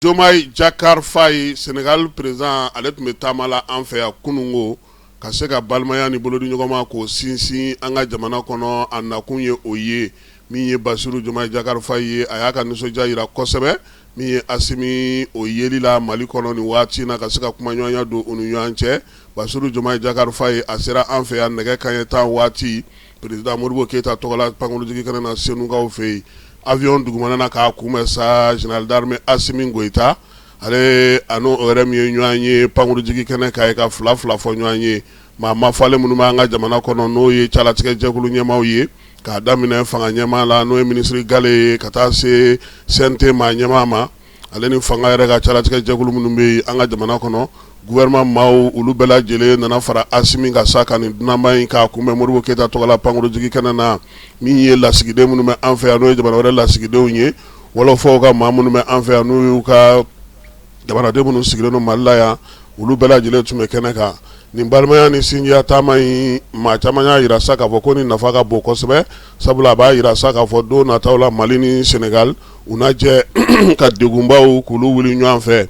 Diomaye Diakhar Faye senegali président ale tun bɛ taama la an fɛ yan kunungo ka se ka balimaya ni bolodiɲɔgɔnma k'o sinsin an ka jamana kɔnɔ a nakun ye o ye min ye Bassirou Diomaye Diakhar Faye a y'a ka nisɔndiya jira kosɛbɛ min ye Assimi o yeli la mali kɔnɔ nin waati na ka se ka kumaɲɔgɔnya don u ni ɲɔgɔn cɛ Bassirou Diomaye Diakhar Faye a sera an fɛ yan nɛgɛ kanɲɛ tan waati Président Modibo keyita tɔgɔ la pankurunjigi kɛnɛ na Senukaw fɛ yen avion dugumana na k'a kunbɛn sa général d'armée Assimi Goïta ale ani o yɛrɛ min ye ɲɔgɔn ye pankurunjigi kɛnɛ kan yen ka fila fila fɔ ɲɔgɔn ye maa mafalen minnu bɛ an ka jamana kɔnɔ n'o ye calatigɛjɛkulu ɲɛmaaw ye k'a daminɛ fanga ɲɛmaa la n'o ye minisiri gale ye ka taa se CNT maa ɲɛmaa ma Ale ni fanga yɛrɛ ka calatigɛjɛkulu minnu bɛ yen an ka jamana kɔnɔ gouvernement maaw olu bɛɛ lajɛlen nana fara Assimi kan sa ka nin dunanba in k'a kunbɛn Modibo keyita tɔgɔ la pankurunjigi kɛnɛ na min ye lasigiden minnu bɛ an fɛ yan n'o ye jamana wɛrɛ lasigidenw ye wɔlɔfɔw ka maa minnu bɛ an fɛ yan n'u y'u ka jamanadenw minnu sigilen Mali la yan olu bɛɛ lajɛlen tun bɛ kɛnɛ kan nin balimaya ni sinjiya taama in maa caman y'a jira sa k'a fɔ ko nin nafa ka bon kosɛbɛ sabula a b'a jira sa k'a fɔ don nata la mali ni senegal u na jɛ ka degunbaw k'olu wuli ɲɔgɔn fɛ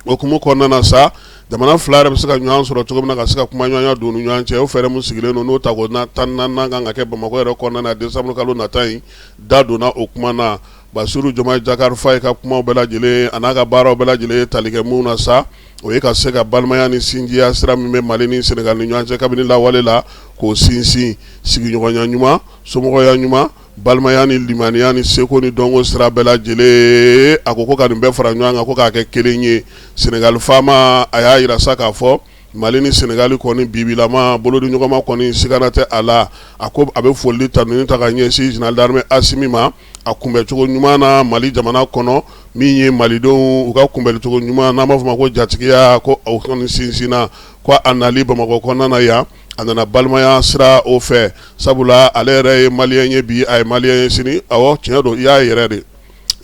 o hukumu kɔnɔna na sa jamana fila yɛrɛ bɛ se ka ɲɔgɔn sɔrɔ cogo min na ka se ka kumaɲɔgɔnya don u ni ɲɔgɔn cɛ o fɛɛrɛ min sigilen don n'o tako tan ni naani kan ka kɛ bamakɔ yɛrɛ kɔnɔna na desanburukalo nata in da donna o kuma na Bassirou Diomaye Diakhar Faye ka kuma bɛɛ lajɛlen a n'a ka baaraw bɛɛ lajɛlen ye tali kɛ min na sa o ye ka se ka balimaya ni sinjiya sira min bɛ mali ni senegal ni ɲɔgɔn cɛ kabini lawale la k'o sinsin sigiɲɔgɔnya ɲuman somɔgɔya ɲuman Balimaya ni limaniya ni seko ni dɔnko sira bɛɛ lajɛlen a ko ko ka nin bɛɛ fara ɲɔgɔn kan ko k'a kɛ kelen ye Senegali faama a y'a jira sa k'a fɔ Mali ni Senegali kɔni bibilama bolodiɲɔgɔnma kɔni sigana tɛ a la a ko a bɛ foli tanuni ta ka ɲɛsin Général d'armée Assimi ma a kunbɛcogo ɲuman na Mali jamana kɔnɔ min ye malidenw u ka kunbɛlicogo ɲuman n'an b'a fɔ o ma ko jatigiya ko o kɔni sinsinna ko a nali Bamakɔ kɔnɔna na yan a nana balimaya sira o fɛ sabula ale yɛrɛ ye maliyɛn ye bi a ye maliyɛn ye sini awɔ tiɲɛ don i y'a yɛrɛ de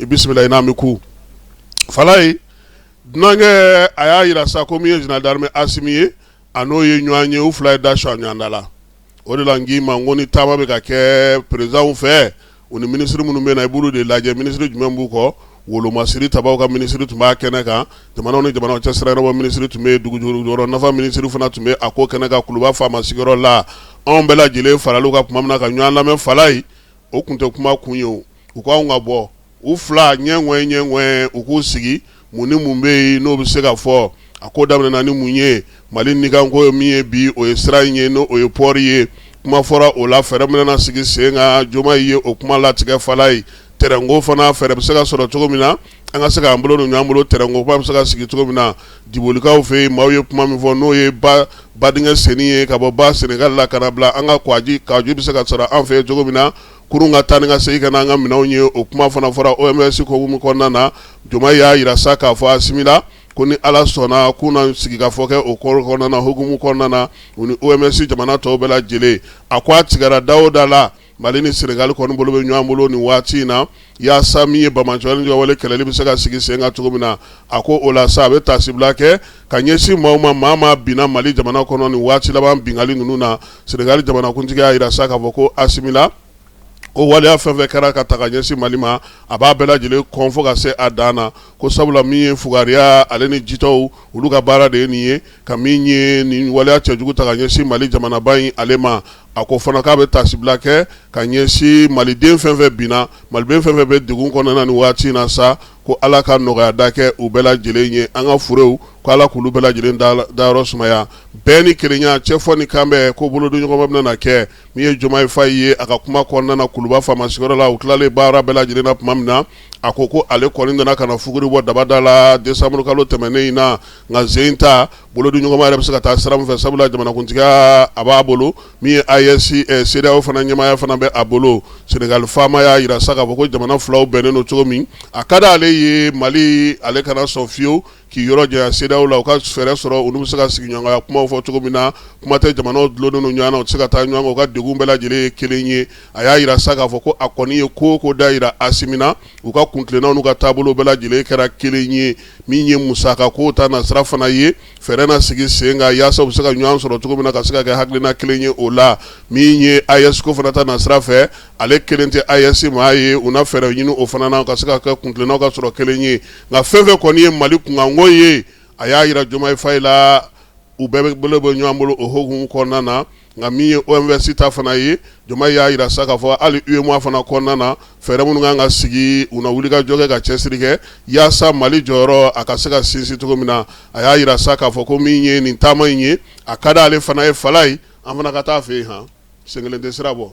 i bisimila i n'a mɛn ko Falaye dunankɛ a y'a jira sa ko min ye général d'armée Assimi ye a n'o ye ɲɔgɔn ye u fila ye da sɔ ɲɔgɔn da la o de la n k'i ma n ko ni taama bɛ ka kɛ présidentw fɛ U ni minisiri minnu bɛ na i b'olu de lajɛ minisiri jumɛn b'u kɔ wolomasiri tabaw ka minisiri tun b'a kɛnɛ kan jamana ni jamana cɛ sira yɔrɔ minisiri tun bɛ dugujukɔrɔ nafa minisiri fana tun bɛ a ko kɛnɛ kan kuluba faama sigiyɔrɔ la anw bɛɛ lajɛlen farali u kan kuma min na ka ɲɔgɔn lamɛn Falaye o tun tɛ kuma kun ye u k'anw ka bɔ u fila ɲɛ ɲɛ u k'u sigi Mun ni mun bɛ yen n'o bɛ se ka fɔ a ko daminɛna ni mun ye Mali nikanko ye min ye bi o ye sira in ye n'o ye pɔri ye kuma fɔra o la fɛɛrɛ minnu na sigi sen kan Diomaye ye o kuma latigɛ Falaye tɛrɛnko fana fɛɛrɛ bɛ se ka sɔrɔ cogo min na an ka se k'an bolo don ɲɔgɔn bolo tɛrɛnko kuma bɛ se ka sigi cogo min na Dibolikaw fɛ yen maaw ye kuma min fɔ n'o ye ba badingɛ senni ye ka bɔ ba Senegal la ka na bila an ka Kɔgɔji Kɔgɔji bɛ se ka sɔrɔ an fɛ yen cogo min na kurun ka taa ni ka segin ka na an ka minɛnw ye o kuma fana fɔra OMVS hukumu kɔnɔna na Diomaye y'a jira sa k'a fɔ asimi la ko ni ala sɔnna k'u na sigi ka fɔ kɛ o ko kɔnɔna na hukumu kɔnɔna na u ni OMVS jamana tɔw bɛɛ lajɛlen a ko a tigɛra da o da la mali ni senegali kɔni bolo bɛ ɲɔgɔn bolo nin waati in na yaasa min ye damatɛmɛwale jatigɛwale kɛlɛli bɛ se ka sigi sen kan cogo min na a ko o la sa a bɛ tasibila kɛ ka ɲɛsin maaw ma maa maa binna mali jamana kɔnɔ nin waati laban bingali ninnu na senegali jamanakuntigi y'a jira sa k'a fɔ ko asimi la ko waleya fɛn fɛn kɛra ka ta ka ɲɛsin mali ma a b'a bɛɛ lajɛlen kɔn fo ka se a dan na ko sabula min ye fugariya ale ni jitɔw olu ka baara de ye nin ye ka min ye nin waleya cɛjugu ta ka ɲɛsin mali jamanaba in ale ma a ko fana k'a bɛ tasibila kɛ ka ɲɛsin maliden fɛn fɛn binna maliden fɛn fɛn bɛ degun kɔnɔna nin waati in na sa ko ala ka nɔgɔya da kɛ u bɛɛ lajɛlen ye an ka furew ko ala k'olu bɛɛ lajɛlen dayɔrɔ sumaya bɛn ni kelenya cɛfɔ ni kanbɛn ko bolodiɲɔgɔnma bɛna na kɛ min ye Diomaye Faye ye a ka kuma kɔnɔna kuluba faama sigiyɔrɔ la u tilalen baara bɛɛ lajɛlen na tuma min na a ko ko ale kɔni nana ka na fuguri bɔ dabada la desanburukalo tɛmɛnen in na nka sen in ta bolodiɲɔgɔnma yɛrɛ bɛ se ka taa sira min fɛ sabula jamanakuntigiya a b'a bolo min ye AES CEDEAO fana ɲɛmaaya fana bɛ a bolo senegali faama y'a jira sa k'a fɔ ko jamana filaw bɛnnen don cogo min a ka di ale ye mali ale kana sɔn fiyewu k'i yɔrɔ janya CEDEAO la u ka fɛɛrɛ sɔrɔ olu bɛ se ka sigiɲɔgɔnya kumaw fɔ cogo min na kuma tɛ jamanaw dulonnen don ɲɔgɔn na u tɛ se ka taa ɲɔgɔn kɔ u ka degun bɛɛ lajɛlen ye kelen ye a y'a jira sa k'a fɔ ko a kɔni ye ko o ko da jira asimi na u ka kuntilennaw n'u ka taabolo bɛɛ lajɛlen kɛra kelen ye min ye musakako ta nasira fana ye fɛɛrɛ na sigi sen kan yaasa u bɛ se ka ɲɔgɔn sɔrɔ cogo min na ka se ka kɛ hakilina kelen ye o la min ye AES ko fana ta nasira fɛ ale kelen tɛ AES maa ye u na fɛɛrɛ ɲini o fana na ka se ka kɛ kuntilennaw ka sɔrɔ kelen ye nka fɛn fɛn kɔni ye Mali kunkanko ye a y'a jira Jomayi Fayi la u bɛɛ bolo bɛ ɲɔgɔn bolo o hukumu kɔnɔna na nka min ye OMVS ta fana ye Diomaye y'a jira sa k'a fɔ hali UEMOA fana kɔnɔna na fɛɛrɛ minnu ka kan ka sigi u na wulikajɔ kɛ ka cɛsiri kɛ yaasa mali jɔyɔrɔ a ka se ka sinsin cogo min na a y'a jira sa k'a fɔ ko min ye nin taama in ye a ka di ale fana ye Falaye an fana ka taa fɛ yen han sen kelen tɛ sira bɔ